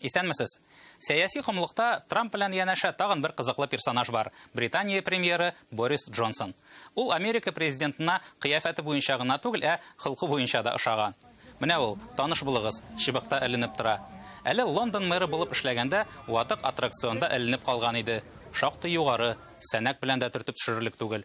Исәнмесез! Сәяси комлыкта Трамп белән янәшә тагын бер кызыклы персонаж бар, Британия премьеры Борис Джонсон. Ул Америка президентына кыяфәте буенча гына түгел, ә холкы буенча да ошаган. Менә ул, таныш булыгыз, чыбыкта эленеп тора. Әле Лондон мэры булып эшләгәндә ватык аттракционда эленеп калган иде. Шактый югары, сәнәк белән дә төртеп төшерерлек түгел.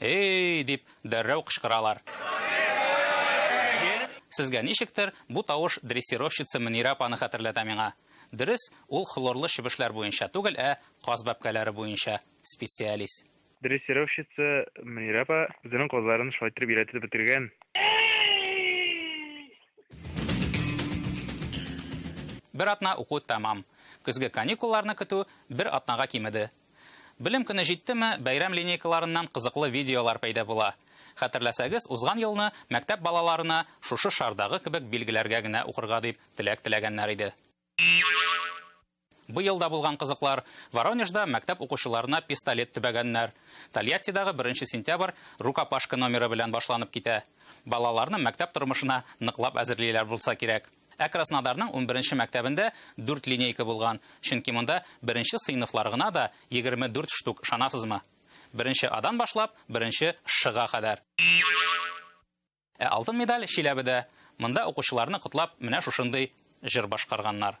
Эй! дип, дәррәү кычкыралар. Сезгә ничектер, бу тавыш дрессировщица Мөнирә апаны хәтерләтә миңа. Дөрес, ул хлорлы чебешләр буенча түгел, ә каз бәбкәләре буенча специалист. Дрессировщица Мөнирә апа үзенең казларын шулай иттереп өйрәтеп бетергән. Бер атна уку тәмам. Көзге каникулларны көтү бер атнага кимеде. Белем көне җиттеме, бәйрәм линейкаларыннан кызыклы видеолар пәйда була. Хәтерләсәгез, узган елны мәктәп балаларына шушы шардагы кебек билгеләргә генә укырга дип теләк теләгәннәр иде. Быел да булган кызыклар. Воронежда мәктәп укучыларына пистолет төбәгәннәр. Тольяттидагы беренче сентябрь рукопашка номеры белән башланып китә. Балаларны мәктәп тормышына ныклап әзерлиләр булса кирәк. Ә Краснодарның унберенче мәктәбендә дүрт линейка булган, чөнки монда беренче сыйныфлар гына да егерме дүрт штук, ышанасызмы? Беренче Адан башлап, беренче Шга кадәр. Ә алтын медаль Чиләбедә, монда укучыларны котлап менә шушындый җыр башкарганнар.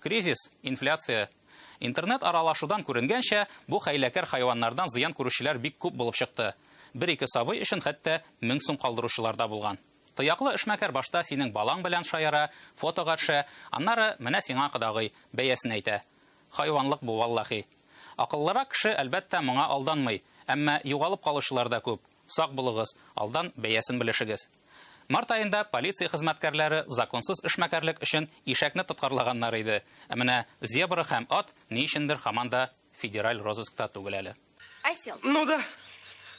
Кризис, инфляция. Интернет аралашудан күренгәнчә, бу хәйләкәр хайваннардан зыян күрүчеләр бик күп булып чыкты. Бер-ике сабый өчен хәтта мең сум калдыручылар да булган. Тояклы эшмәкәр башта синең балаң белән шаяра, фотога төшә, аннары, менә сиңа кодагый, бәясен әйтә. Хайванлык бу, валлахи. Акыллырак кеше, әлбәттә, моңа алданмый. Әмма югалып калучылар да күп. Сак булыгыз, алдан бәясен белешегез. Март аенда полиция хезмәткәрләре законсыз эшмәкәрлек өчен ишәкне тоткарлаганнар иде, ә менә зебра һәм ат ни өчендер һаман да федераль розыскта түгел әле. Осел. Ну да.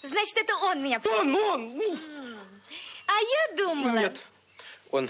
Значит, это он меня... Он, он! А я думала... Нет, он...